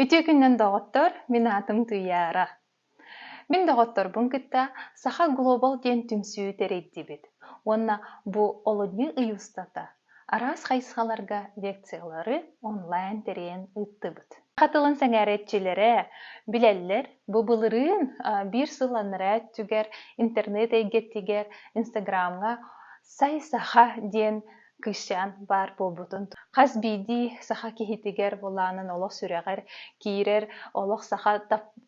Үтүө күнүнэн доҕоттор, мин аатым Туйаара. Мин доҕотторбун кытта Саха Глобал диэн түмсүү тэрийдибит уонна бу олунньу ый устата араас хайысхаларга лекциялары онлайн тэрийэн ыыттыбыт. Хатылын сэҥээрээччилэрэ билэллэр бу былырыын биир сылланараа өттүгэр интернет эйгэтигэр Инстаграмҥа Сай саха диэн кыысчаан баар буолбутун хас биирдии саха киһитигэр былаанын олох сүрэҕэр киирэр олох саха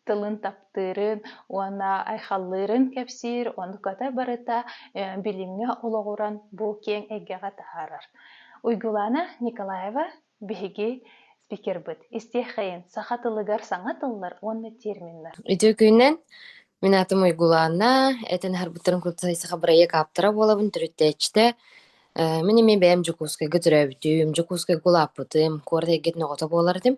тылын таптыырын уонна айхаллыырын кэпсиир онуката барыта билимҥэ олоҕуран бу киэҥ эйгэҕэ таһаарар уйгулаана николаева Биһиги спикербыт истиэхэйин саха тылыгар саҥа тыллар уонна терминнэр. Үтүөкүүнэн мин аатым Уйгулаанна, этэн харбыттарын курдук саха бырайыак ааптара буолабын, төрүттээччитэ. Э, Мин эмиэ бэйэм Дьокуускайга төрөөбүтүм, Дьокуускайга улааппытым, куорат эйгэтин оҕото буолар этим.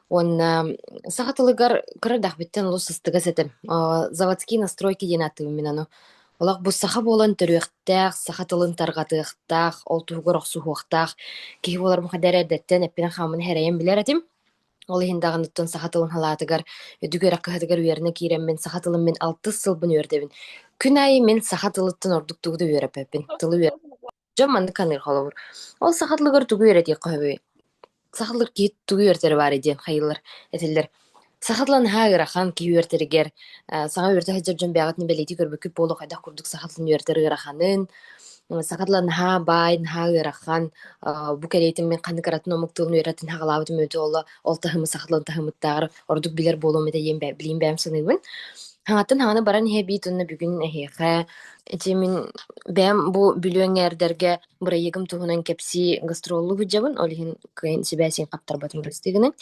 Уонна саха тылыгар кыра эрдэхпиттэн олус ыстыгас этим. Э, заводские настройки диэн ааттыыбын мин аны. Олох бу саха буолан төрүөхтээх, саха тылын тарҕатыахтаах, ол туһугар охсуһуохтаах киһи буоларым хадэ эрэ эрдэттэн эппинэн-хааммын эрэйэн билэр этим. Ол иһин даҕаныттан саха тылын халаатыгар, үдүк үөрэх кыһатыгар үөрэнэ киирэммин, саха тылын мин алтыс сылбын үөрдэбин. Күн аайы мин саха тылыттан ордук тугу да үөрэппэппин, тылы үөрэ Дьон маннык ханыыр холобур. Ол саха тылыгар тугу үөрэтиэх хоһуй? Сахалар киһи тугу үөрэтэрэ баарай диэн хайылар этэллэр. Саха тыла наһаа ыарахан киһи үөртэригэр э, саҥа үөрэтэ сылдьар дьон бэйэҕитин бэлиэтии көрбүккүт буолуо хайдах курдук саха тылын үөрэтэр ыараханын саха тыла наһаа баай наһаа ыарахан бу кэриэтин мин ханнык ыратын омук тылын үөрэтин саҕалаабытым өтө оло ол таһымы саха тылын таһымыттааҕар ордук билэр буолуом этэ диэн билиим бэйэм саныыбын. Хаҥаттан хаҥана баран иһэбит уонна бүгүн эһиэхэ ити мин бэйэм бу бүлүөҥҥэ эрдэргэ бырайыагым туһунан кэпсии гастроллу сылдьабын, ол иһин кыайын сибээсин хаптарбатын кэбистигинин.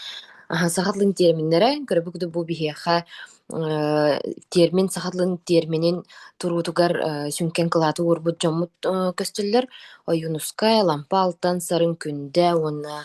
Аха саха тылын терминнэрэ көрбүк да бу биһиэхэ э, термин саха тылын терминин туруутугар э, сүҥкэн кылааты уурбут дьоммут э, көстөллөр. Ойуунускай, Лампа Алтан, Сарын Күндэ уонна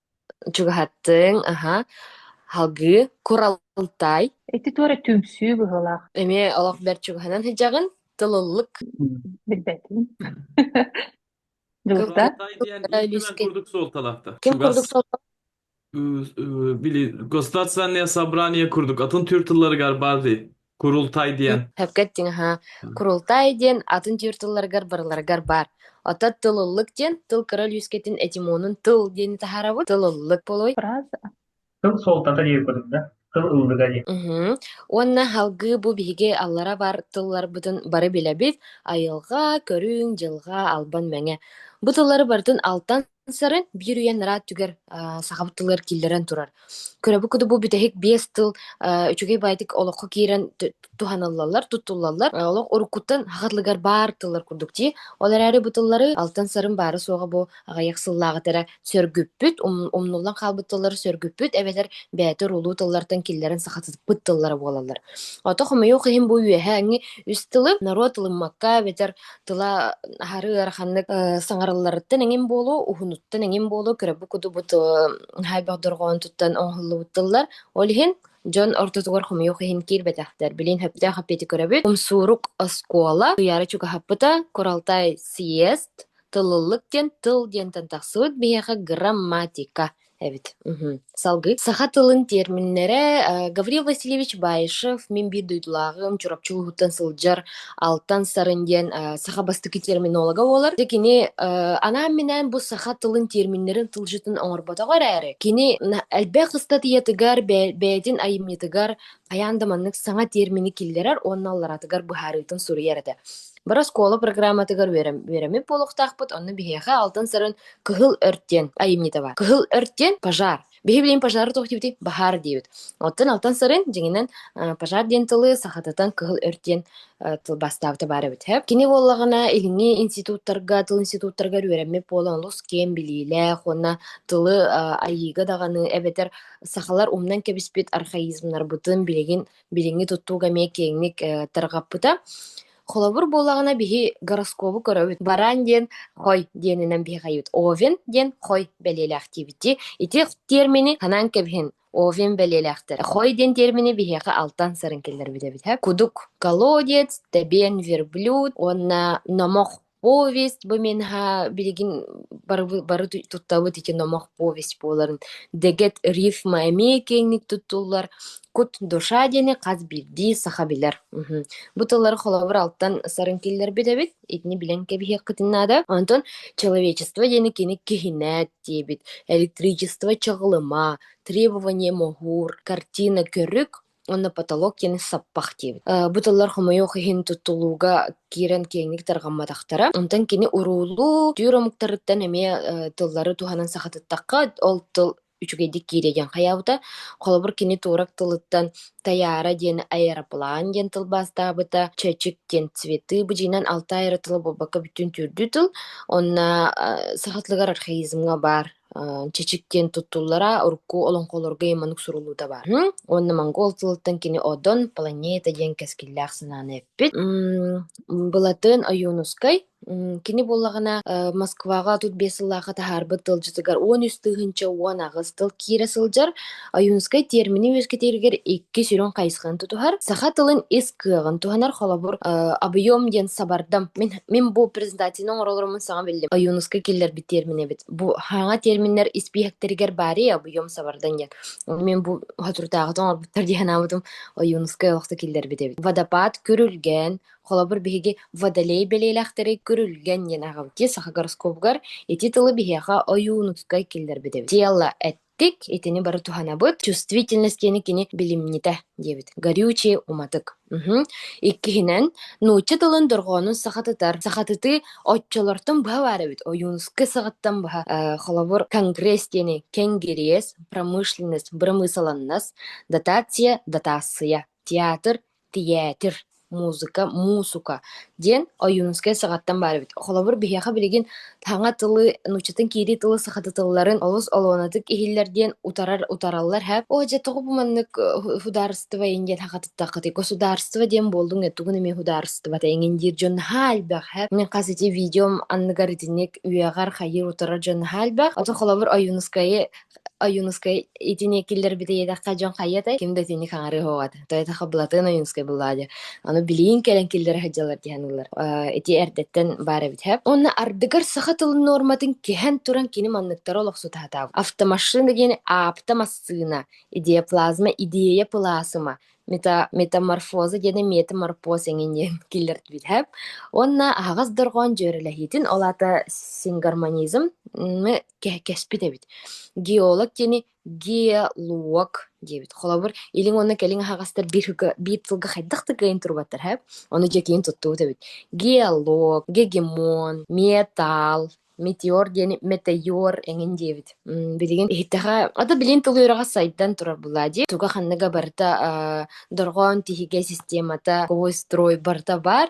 Чугаһаттыҥ, аһа, салгыы Куралтай. Ити туора түмсүү быһыылаах. Эмиэ олох бэрт чугаһынан сыдьаҕын, тылыллык. Билбэтим. Дьулуста? Куралтай диэн Куралтай ким Лиски. курдук суолталаахта? Ким курдук Чугас солто э, э, били государственное собрание курдук атын төр тыллары бар бары. Курултай диэн. Хөпкө эттиҥ аһа. Курултай диэн атын түөр тылларыгар барыларыгар баар. Оттон тылыллык диэн тыл кыра өлүүскэтин этимонун тыл диэни таһаарабыт. Тылыллык болой. Фраза. Тыл суолтата диэбитим да, тыл ыллыга диэн. Мгм. Уонна халгыы бу биһиги аллара бар тылларбытын бары билэбит. Айылҕа, көрүҥ, дьылҕа, албан, мэҥэ. Бу тыллары барытын алтан Сарын биир үйэ нараа өттүгэр аа сахабыт тылыгар киллэрэн турар. Көрөбүн курдук бу бүтэһик биэс тыл аа үчүгэй баайдык олоххо киирэн ту туһаныллаллар, тутуллаллар. Э, олох уруккуттан саха тылыгар баар тыллар курдук дии. Ол эрээри бу тыллары алтан-сарын баара-суоҕа бу аҕыйах сыллааҕыта эрэ сөргүппүт, умн умнуллан хаалбыт тыллары сөргүппүт эбэтэр бэйэтэ урулуу тыллартан киллэрэн сахатыппыт тыллара буолаллар. Ото хомойуох иһин бу үөһээҥҥи үс тылы норуот ылыммакка эбэтэр тыла аһары ыараханнык э, саҥарылларыттан эҥин буолуо, уһунуттан эҥин буолуо, көрөбү кудубут хайбах дорҕоон туттан оҥоһуллубут тыллар. Ол иһин дьон ортотугар хомойуох иһин киирбэтэхтэр. Билин сөптөөх аппети көрөбүт. Умсуурук оскуола ыйаары чугаһаппыта Куралтай съезд тылыллык диэн тыл диэн тан тахсыбыт биһиэхэ грамматика эбит мхм салгыы саха тылын тиэрминнэрэ э, Гаврил Васильевич Баишев мин биир дойдулааҕым Чурапчы улууһуттан сылдьар алтан сарын диэн э, саха бастакы терминолога буолар дьэ кини э, анаан минээн бу саха тылын тиэрминнэрин тылжытын оҥорботоҕо эрээри кини на- элбэх ыстатыйатыгар бэйэ- бэйэтин айымньытыгар хайаан да маннык саҥа тиэрмини киллэрэр уонна аллараатыгар быһаарыытын суруйар этэ Бары оскуола программатыгар үөрэммит буолуохтаахпыт, онно биһиэхэ алтын-сарын Кыһыл Өрт диэн айымньыта баар. Кыһыл Өрт диэн пожар. Биһи билин пожары туох диибитий? Баһаар диибит. Оттон алтын-сарын дьиҥинэн пожар диэн тылы сахатытан Кыһыл Өрт диэн тылбастаабыта баар эбит. Кини буоллаҕына, илиҥҥи институттарга, тыл институттарыгар үөрэммит буолан олус киэн билиилээх уонна тылы айыыга даҕаны эбэтэр сахалар умнан кэбиспит архаизмнарбытын билигин Билиҥҥи туттууга эмиэ киэҥник э, тарҕаппыта. Холобур буоллаҕына, биһи гороскобу көрөбүт. Баран диэн хой диэнинэн биһиэхэйбит. Овен диэн хой бэлиэлээх диэбити. Ити термини ханаан кэбиһин овен бэлиэлээхтэр. Хой диэн термини биһиэхэ алтан сарын киллэрбит эбит. Кудук колодец, табен верблюд уонна номох Повесть бу миэхэ билигин бары бары туттабыт ити номох повесть буоларын дэгэт рифма эмиэ киэҥник туттуллар кут душа диэни хас биирдии саха билэр мгм. бу тыллары холобур алтан сарын киллэрбит эбит итини билэн кэбиһиэххитин наада онтон человечество диэни кини киһинээт диэбит электричество чаҕылыма требование могур картина көрүк уонна потолок диэн саппах диэбит. Э, бу тыллар хомойуох иһин тутулууга киирэн киэҥник тарҕамматахтара. Онтон кини уруулуу түүр омуктарыттан эмиэ э, тыллары туһанан сахатыттахха, ол тыл үчүгэйдик киирэ диэн хайаабыта. Холобур, кини туорак тылыттан таяра диэн аэроплан диэн тылбаастаабыта, чэчик диэн цветы быдьыынан алта айары тылы буолбакка бүтүн түрдүү тыл. Онно саха тылыгар архаизмҥа баар чичик диэн туттуллара урукку олоҥхолорго ый маннык суруллуута баар. Уонна монгол тылыттан кини Одон планета диэн кэскиллээх санааны эппит. Былатын Ойуунускай кини буоллаҕына Москваҕа отут биэс сыллаахы таһаарбыт тылдьытыгар он үс тыһыынча уон аҕыс тыл киирэ сылдьар. Ойуунускай термини үөскэтииригэр икки сүрүн хайысханы тутуһар. Саха тылын ис кыаҕын туһанар холобур объем диэн сабардам. Мин мин бу презентацияны оҥоролорумун саҥа биллим. Ойуунускай киллэрбит термин эбит. Бу хаана терминнэр испииһэктэригэр баарый объем сабардан диэн. Мен бу хатыртааҕыта оҥорбуттар диэн анаабытым Ойуунускай олохто киллэрбит эбит. Водопад көрүлгэн, холобур биһиги водолей бэлиэлээхтэри көрүлгэн диэн аҕабытия саха гороскопугар ити тылы биһиэхэ ойуунускай киллэрбит эбит. Дело Дик, итини бары туһанабыт. Чувствительность диэни кини билимньитэ диэбит. Горючее уматык. Мгм. Иккиһинэн, нуучча тылын дорҕоонун сахатытар. Сахатытыы оччолортон быһа баар эбит. Ойуунускай саҕаттан быһа. Э, холобур, конгресс диэни кенгириес, промышленность, бырамыысаланнас, дотация, дотация. Театр, тиээтир, музыка, муусука диэн Ойуунускай саҕаттан баар эбит. Холобур, биһиэхэ билигин саҥа тылы, нууччатын киирии тылы, саха тылларын олус олуонатык иһиллэр диэн утарар утараллар һэ. Оо дьэ тоҕо бу маннык э, судаарыстыба иҥ диэн хатыттаххытый? Государство диэн буолдуҥ ээ, тугун эмиэ судаарыстыбата иҥин диир дьон наһаа элбэх һэ. Мин хас ити видеом анныгар итинник үөҕэр, хайыыр утарар дьон наһаа элбэх. Оттон холобур Ойуунускайы Ойуунускай итини киллэрбит ийэтэххэ дьон хайа этэй ким да итинник хаҥарыы оһоҕото тоетаха былатыан ойуунускай былаа диир аны билиин кэлэн киллэрэ сылдьаллар диэн ыллар ити эрдэттэн баар эбит һэ онно ардыгар саха тылын нуорматын кэһэн туран кини манныктара олохсутаатаабы автомашина диэн аапта массыына идеоплазма идея плазма мета метаморфоза диэни метаморфоз эҥин диэн киллэртибит һэ уонна аһаҕас дорҕоон дьүөрэлэһиитин ол аата сингармонизм мы Кэ кэспит эбит. Геолог диэни геолог диэбит. Холобур, илиҥ уонна кэлиҥ аһаҕастар биир сылга биир сылга хайдах да кыайан турбаттар эһэ. Ону дьэкиин туттубут эбит. Геолог, гегемон, металл, метеор диэни метеор эҥин диэбит. М, билигин иһиттэҕэ, а да билигин тыл үөрэҕэ сайдан турар былаа дии. Туга ханныга барыта, аа, дорҕоон тиһигэ системата, ковой строй барыта баар.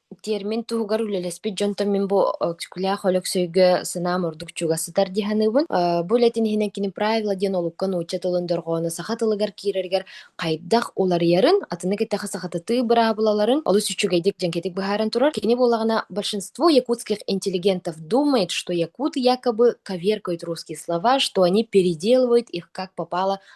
Тиэрмин туһугар үлэлэспит дьонтон мин бу Өксүкүлээх Өлөксөйгө сынаам ордук чугас сытар дии саныыбын. Э, бу үлэтин иһинэн кини правила диэн олукка нуучча тылын дорҕооно саха тылыгар киирэригэр хайдах уларыйарын, атыны кытта сахатытыы быраабылаларын олус үчүгэйдик дьэҥкэтик быһааран турар. Кини буоллаҕына большинство якутских интеллигентов думает, что якуты якобы коверкают русские слова, что они переделывают их как попало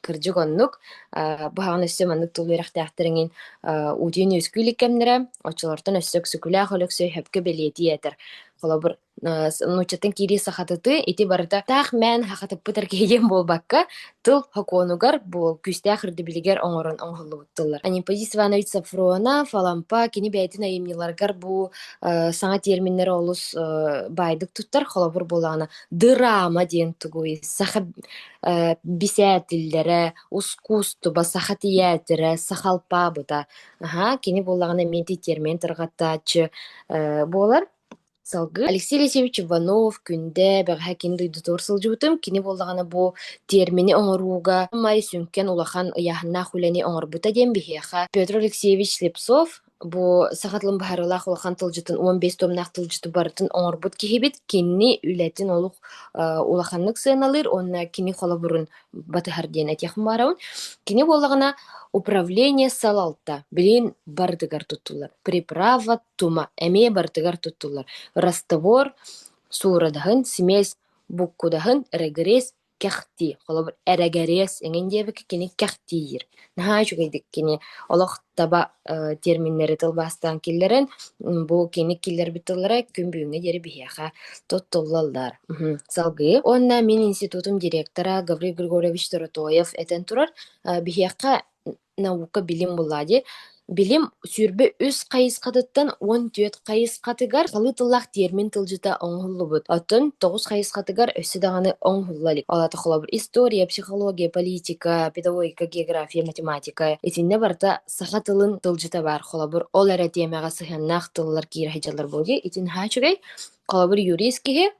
Кырдьык оннук. Э, быһаҕын өссө маннык тыл үөрэхтээхтэриҥин э, уутуйан үөскүү илик кэмнэрэ, оччолортон өссө Өксөкүлээх Өлөксөй сөпкө бэлиэтии этэр. Холобур, э, нууччаттан киирии сахатытыы ити барыта таах мээн хахатыппытар киһиэн буолбакка, тыл сокуонугар бу күүстээх өрдөбүлүгэр оҥорон оҥоһуллубут тыллар. Анипозит Иванович Сафронов, Алампа кини бэйэтин айымньыларыгар бу э, саҥа терминнэри олус э, баайдык туттар. Холобур буолаҕына, дырама диэн тугуй? Саха Э, бисээтиллэрэ, ускуустуба, саха тиээтирэ, саха алпаабыта. Аһа, кини буоллаҕына эмиэ ити термин тарҕаттааччы э, буолар. Салгыы Алексей Алексеевич Иванов, Күндэ, бэҕэһээ кини дойдутугар сылдьыбытым. Кини буоллаҕына бу термини оҥорууга май сүҥкэн улахан ыйааһыннаах үлэни оҥорбута диэн биһиэхэ Петр Алексеевич Слепцов Бу саха тылын быһаарыылаах улахан тылдьытын уон биэс томнаах тылдьыты барытын оҥорбут киһибит, кинини үлэтин олук э, улаханнык сыаналыыр уонна кини холобурун батыһар диэн этиэхим баарабын. Кини буоллаҕына управление салалта билин барытыгар туттуллар приправа тума эмиэ барытыгар туттуллар растовор суурадаһын, семес буккудаһын, регресс кэхтии. Холобур, эрэгэрэс эҥин диэбиккэ кини кэхтиир. Наһаа үчүгэйдик кини олох таба э, терминнэри тылбаастаан киллэрэн, м, бу кини киллэрбит тыллара күн бүгүҥҥэ диэри биһиэхэ туттуллаллар. Мгм. Салгыы. Уонна мин институтум директора Гаврил Григорьевич Доротоев этэн турар, э, биһиэхэ наука-билим буллаа дии. Билим сүүрбэ үс хайысхатыттан уон түөрт хайысхатыгар салыы тыллаах тиэрмин тылдьыта оҥоһуллубут. Оттон тоҕус хайысхатыгар өссө даҕаны оҥоһулла илик. Ол аата холобур история, психология, политика, педагогика, география, математика. Итиннэ барыта саха тылын тылдьыта баар. Холобур, ол эрэ тиэмэҕэ сыһыаннаах тыллар киирэ сылдьаллар буолуо дии. Итин haa үчүгэй. Холобур, юрист киһи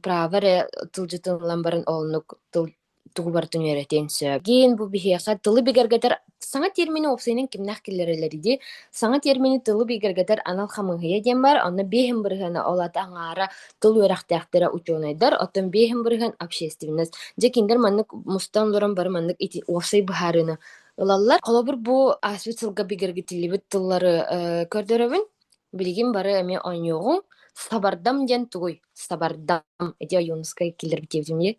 право эрэ тылдьытыллан баран оннук тыл тугу барытын үөрэтиэн сөп. Гин бу биһиэхэ тылы бигэргэтэр саҥа термини уопсайынан кимнээх киллэрэллэрий саҥа термини тылы бигэргэтэр анал хамыыһыйа диэн баар, онно биэһин бырыһыана ол аата аҥаара тыл үөрэхтээхтэрэ учуонайдар, оттон биэһин бырыһыан общественность. Дьэ кинилэр маннык мустан олорон бары маннык ити уопсай быһаарыыны ылаллар. Холобур бу ааспыт сылга бигэргэтиллибит тыллары көрдөрөбүн. Билигин бары эмиэ оонньуоҕуҥ. Сабардам диэн тугуй? Сабардам. Ити Ойуунускай киллэрбит диэбитим дии.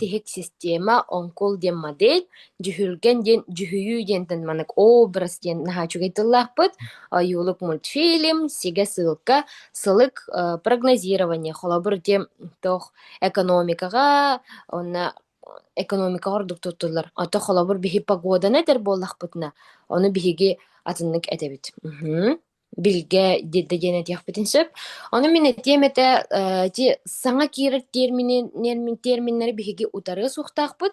тиһик система оҥкул диэн модель дьүһүлгэн диэн дьүһүйүү диэнтэн маннык образ диэн наһаа үчүгэй тыллаахпыт ойуулук мультфильм сигэ ссылка сылык прогнозирование холобур диэн туох экономикаҕа уонна экономикаҕа ордук туттуллар ото холобур биһи погоданы этэр буоллахпытына ону биһиги атыннык этэбит билгэ диэдэ диэн этиэхпитин сөп. Ону мин этиэм этэ, э, ити саҥа киирэр термини, термин, терминнэри биһиги утары суохтаахпыт.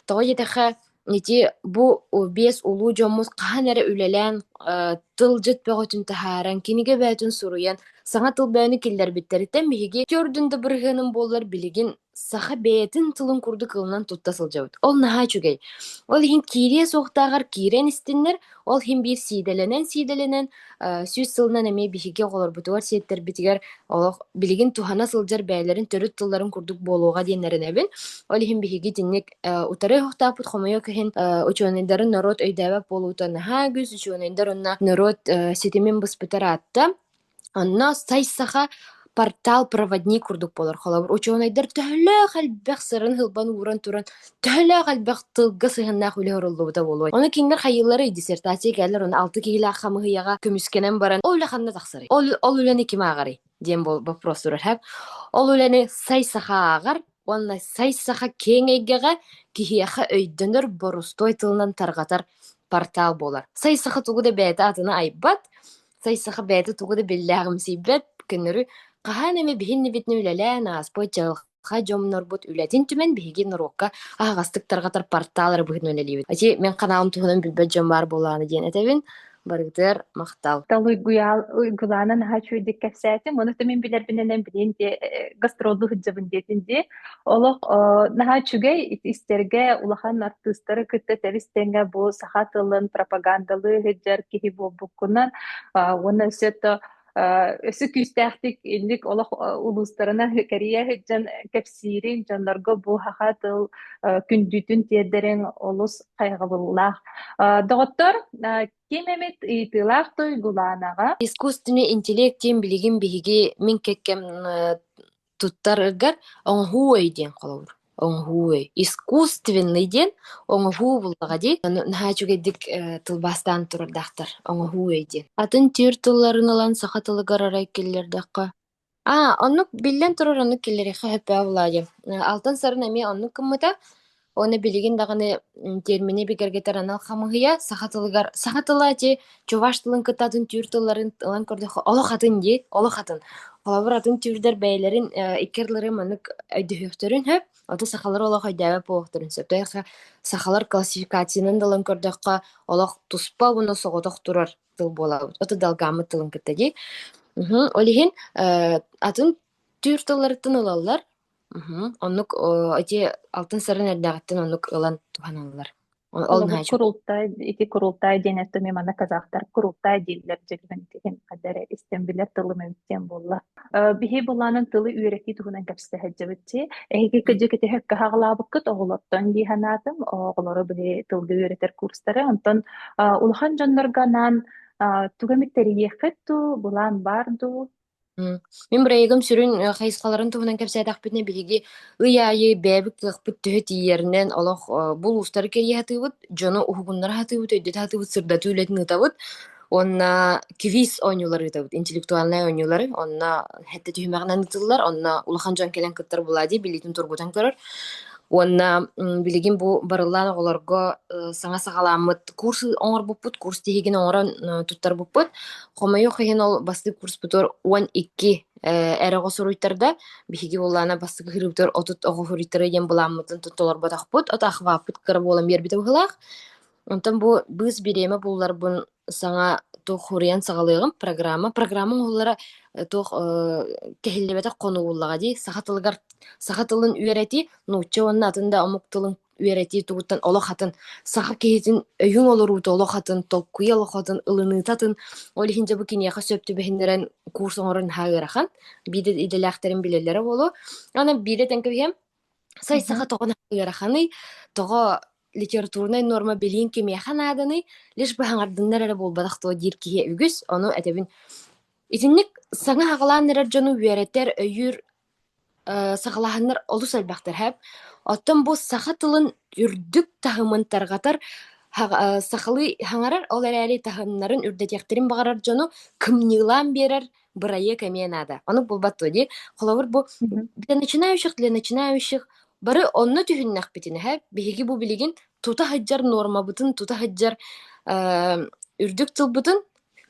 Тоҕо диэтэхэ, ити бу биэс улуу дьоммут хаһан эрэ үлэлээн э, тылдьыт бөҕөтүн таһааран, кинигэ бөөтүн суруйан, саҥа тыл бөөнү киллэрбиттэриттэн биһиги төрдүн да бырыһыаным буоллар, билигин Саха бэйэтин тылын курдук ылынан тутта сылдьабыт. Ол наһаа үчүгэй. Ол иһин киириэ суохтааҕар киирэн истиннэр, ол иһин биир сиидэлэнэн-сиидэлэнэн, э, сүүс сылынан эмиэ биһиги оҕолорбутугар, сиэттэрбитигэр олох билигин туһана сылдьар бэйэлэрин төрүт тылларын курдук буолуоҕа диэн эрэнэбин. Ол иһин биһиги итинник э, утары ойохтоохпут хомойуох иһин э, учуонайдарын норуот өйдөөбөт буолуута наһаа үгүс. Учуонайдар уонна норуот э, ситимин быспыта ыраатта. Онно сай саха портал проводник курдук буолар. Холобур, учуонайдар төһөлөөх элбэх сырын һылбан ууран туран, төһөлөөх элбэх тылга сыһыаннаах үлэ оҥоруллубута буолуой? Ону кинилэр хайыылларый? диссертация кэллэр, онон алты киһилээх хамыыһыйаҕа көмүскэнэн баран, ол үлэ ханна тахсарый? Ол, ол үлэни ким ааҕарый? диэн бол- вопрос турар сөп. Ол үлэни сай саха ааҕар уонна сай саха киэҥ эйгэҕэ киһиэхэ өйдөнөр борустуой тылынан тарҕатар портал буолар. Сай саха тугу да бэйэтэ атына айбат, Сайсаха бэйэтэ тугу да биллээҕимсийбэт, көнөрү хаһан эмэ биһиннибитинэ үлэлээн ааспыт дьылҕа дьоннорбут үлэтин түмэн биһиги норуокка аһаҕастык тарҕатар портал ыры быһыытынан үлэлиибит. Ити мин каналым туһунан билбэт дьон баар буоллаҕына диэн этэбин. Барыгытыгар махтал. Тал уйгуйаал уйгулаана наһаа үчүгэйдик кэпсээтим. Оны мин билэрбинэнэн билин дии гастроллуу сылдьабын диэтин дии. Олох наһаа үчүгэй истэргэ улахан артыыстары кытта тэбис-тэҥҥэ бу саха тылын пропагандалыы сылдьар киһи буолбуккунан уонна өссө то өссө күүстээхтик инник олох улуустарына кэрийэ сылдьан кэпсиириҥ дьоннорго бу саха тыл күндүтүн тиэрдэриҥ олус хайҕабыллаах доҕоттор ким эмит ыйытыылаах туйгулаанаҕа искусственный интеллект диэн билигин биһиги мин кэккэм Туттараргар оҥоһуу диэн холобур. Оҥоһуу искусственный диэн оҥоһуу буллаҕа дии. Ону наһаа үчүгэйдик э, тылбаастаан турардаахтар. Оҥоһуу диэн. Атын тиэр тылларын ылан саха тылыгар арай киллэрдэххэ. А, оннук биллэн турар оннук киллэриэххэ сөптөөх буолаа диэн. Э, Алтан сарын эмиэ оннук гыммыта. Уонна билигин даҕаны термини бигэргэтэр анал хамыыһыйа саха тылыгар саха тыла ити чуваш тылын кытта атын түүр тылларын ылан көрдөххө олох атын дии олох атын холобур атын түүрдэр бэйэлэрин икки ардыларын маннык өйдөһүөхтэрин сөп оту сахалар олох өйдөөбөт буолуохтарын сөп тойохо сахалар классификациянан да ылан көрдөххө олох туспа уонна соҕотох турар тыл буолабыт оту далгааммыт тылын кытта дии ол иһин атын түүр тылларыттан ылаллар Мгм. Оннук о ити алтын-сарын эрдээҕиттэн оннук ылан туһаналлар. Ол ол Холобур, наһаа чуг курултай ити курултай диэн эттими манна казахтар курултай дииллэр дьиҥинэн киһим ханна эрэ истэн билэр тылым эбит диэн буолла. Э, биһи былаанын тылы үөрэтии туһунан кэпсэһэрдьэбит чи эһиги кыдьыкыты хөккө хаҕылаабыккыт оҕолортон дии санаатым. Оҕолору биһи тылга үөрэтэр курстары онтон а, улахан дьоннорго анаан а, тугу эмит тэрийиэххит дуу, былаан баар дуу? М, Мин бырайыгым сүрүн э, хайысхаларын туһунан кэпсээтэхпитинэ, биһиги ый аайы бэйэбит кыахпыт төһө тиийэринэн олох э, бу улуустары кэрийэ сатыыбыт, дьону уһугуннара сатыыбыт, өйдөтө сатыыбыт, сырдатыы үлэтин ыытабыт. Уонна квиз оонньуулары ыытабыт, интеллектуальнай оонньуулары. Онно хэттэ түһүмэҕинэн ыытыллар, онно улахан дьон кэлэн кыттар буолаа дии, билиитин тургутан көрөр. Уонна м, билигин бу барыллаан оҕолорго э, саҥа саҕаламмыт курс оҥорбуппут, курс тиһигин оҥорон э, туттарбыппыт. Хомойуох иһин ол бастык курспутугар уон икки э, эрэ оҕо суруйтарда. Биһиги буоллаана бастык ыһыырыбытыгар отут оҕо суруйтары диэн былааммытын толорботохпут. Отаахыбааппыт кыра буолан биэрбитэ быһылаах. Онтон бу быыс бириэмэ булларбын саҥа туох хуруйан саҕалыаҕым программа. Программа оҥоһуллара э, туох э, кэһиллибэтэх хонугуллаҕа дии. Саха тылыгар саха тылын үөрэтии нуучча уонна атын да омук тылын үөрэтии тугуттан олох атын саха киһитин өйүҥ олоруута олох атын толкуйа олох атын ылыныыта атын ол иһин дьэ бу киниэхэ сөп түбэһиннэрэн курс оҥорон наһаа ыарахан биирдэ идэлээхтэрин билэллэрэ буолуо аны биирдэ тэҥкэбиһиэм сай саха тоҕо ыараханый тоҕо литературнай норма билиин кимиэхэ нааданый лишь бы хаҥардыннар эрэ буолбатах дуо диир киһи үгүс ону этэбин итинник саҥа хаҕалаан эрэр дьону үөрэтэр өйүүр Э, саҕалаһаннар олус элбэхтэрһэп. Оттон бу саха тылын үрдүк таһымын тарҕатар һаҕа сахалыы хаҥарар, ол эрээри таһымнарын үрдэтиэхтэрин баҕарар дьону кымньыылаан биэрэр бырайыак эмиэ наада. Оннук буолбаттыа дии. Холобур, бу Мгм. для начинающих для начинающих бары онно түһүннэхпитинэһэ биһиги бу билигин тута сылдьар нуормабытын, тута сылдьар э, үрдүк тылбытын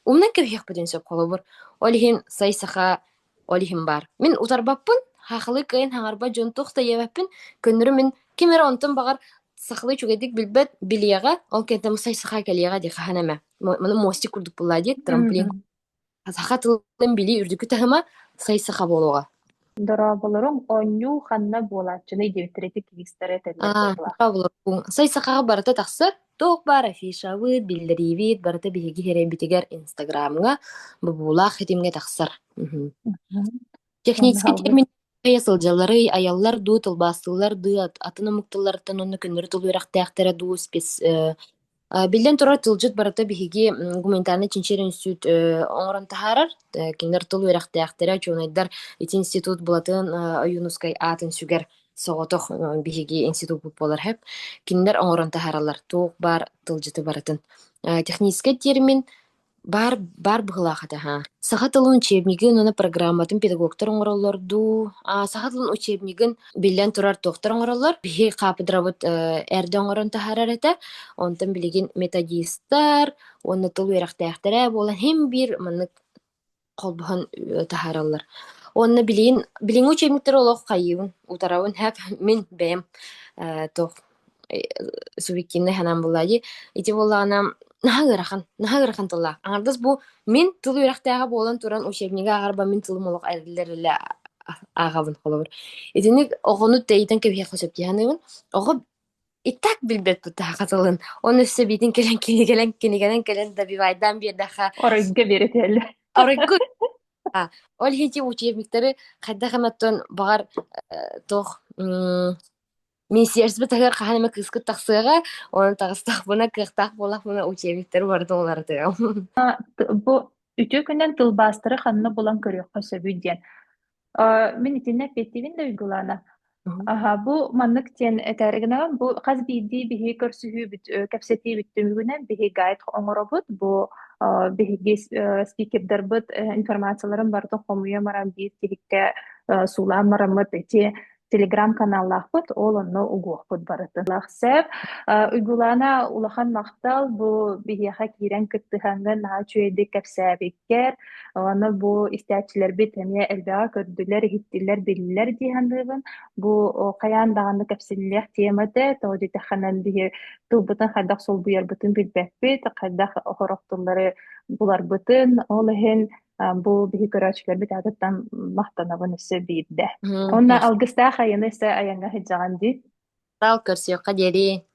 умнан кэбиһиэхпитин сөп. Холобур, ол иһин сай саха Ол иһин баар. Мин утарбаппын, хаахылыы кыайан хаҥарбат дьон туох да диэбэппин, көннөрүм мин ким эрэ онтон баҕар сахалыы үчүгэйдик билбэт, билиэҕэ, ол кэнниттэн мусса саха кэлиэҕэ дии, хаһан эмэ. Маны мостик курдук буоллаа диэт, трамплин Мм. саха тылын билии үрдүкү таһыма сай саха буолуоҕа. Дорооболоруҥ, оонньуу ханна буолааччыный диэбиттэр ити киристэрэ этэллэр А, буоллаах. саха буолуохпун. Сай сахаҕа барыта тахсар, Туох баар афишабыт, биллэриибит барыта биһиги иһэрийбитигэр Инстаграмҥа бобуулаах ситимҥэ тахсар. Мгм. Мгм. Техническэй Ага. термин айа сылдьалларый, айаллар дуу, тылбаастыыллар дуу, ат атын омук тылларыттан онно көннөрү тыл үөрэхтээхтэрэ дуу, спец э, а, биллэн турар, тылдьыт барыта биһиги м, гуманитарнай чинчийэр институт э, оҥорон таһаарар. Э, кинилэр тыл үөрэхтээхтэрэ, учуонайдар ити институт Булатын э, Ойуунускай аатын сүгэр. Соҕотох биһиги институппут буолар сөп. Кинилэр оҥорон таһаараллар туох баар тылдьыты барытын. Э, техническэй термин баар баар быһыылаах этэ аһаа. Саха тылын учебнигын уонна программатын педагогтар оҥороллор дуу, а саха тылын учебнигын биллэн турар туохтар оҥороллор. Биһи хаапыдырабыт э, эрдэ оҥорон таһаарар этэ. Онтон билигин методистар уонна тыл үөрэхтээхтэрэ буолан, һин биир маннык холбоһон э, таһаараллар. Уонна билигин билиҥҥи учебниктары олох хайыыбын, утарабын. Һэп мин бэйэм э, туох э, субъективнай санаам буоллаа дии. Ити буоллаҕына наһаа ыарахан, наһаа ыарахан тыллаах. Аҥардас бу мин тыл үөрэхтээҕэ буолан туран учебнига ааҕарбар мин тылым олох эриллэ-эриллэ ааҕабын холобур. Итинник оҕону тэйитэн кэбиһиэххэ сөп дии саныыбын. Оҕо И так билбэт бутааха тылын. Он өссө биитин кэлэн кинигэлэн, кинигэлэн кэлэн добивайдаан биэрдэххэ Оройго биэрэтэллэр. Оройго а ол иһити учебниктары хайдах эмэттон баҕар э, туох м, министерствотыгар хаһан эмэ кыыскыт тахсыаҕа, онон таҕыстахпына, кыахтаах буоллахпына учебниктары барытын уларытыам. А, т- бу үтүө күнүнэн тылбаастары ханна булан көрүөххэ сөбүй диэн. Э, мин итиннэ эппиэттиибин да уйгулаана. Угу. Аха, бу маннык диэн этэр гынан бу хас биирдии биһиги көрсүһүүбүт, э, кэпсэтиибит түмүгүнэн биһиги гайд оҥоробут. Бу э, биһиги спикердарбыт информацияларын барыта хомуйан баран биир тиһиккэ суулаан бараммыт ити телеграм-каналлаахпыт, ол онно угуохпут барытын. Лахсев, Уйгулаана улахан махтал бу биһиэхэ киирэн кыттыһаҥҥын наһаа үчүгэйдик кэпсээбит. кэр уонна бу истээччилэрбит эмиэ элбэҕи көрдүлэр иһиттилэр биллилэр дии саныыбын бу хайаан даҕаны кэпсиллиэх тема этэ тоҕо диэтэххинэ биһи тылбытын хайдах солбуйарбытын билбэппит хайдах сорох тыллары буларбытын ол иһин бу биһи көрөөччүлэрбит аатыттан махтанабын өссө биирдэ онно алгыстаах айаны өссө айаҥҥа сылдьаҕын дии таал көрсүөххэ диэри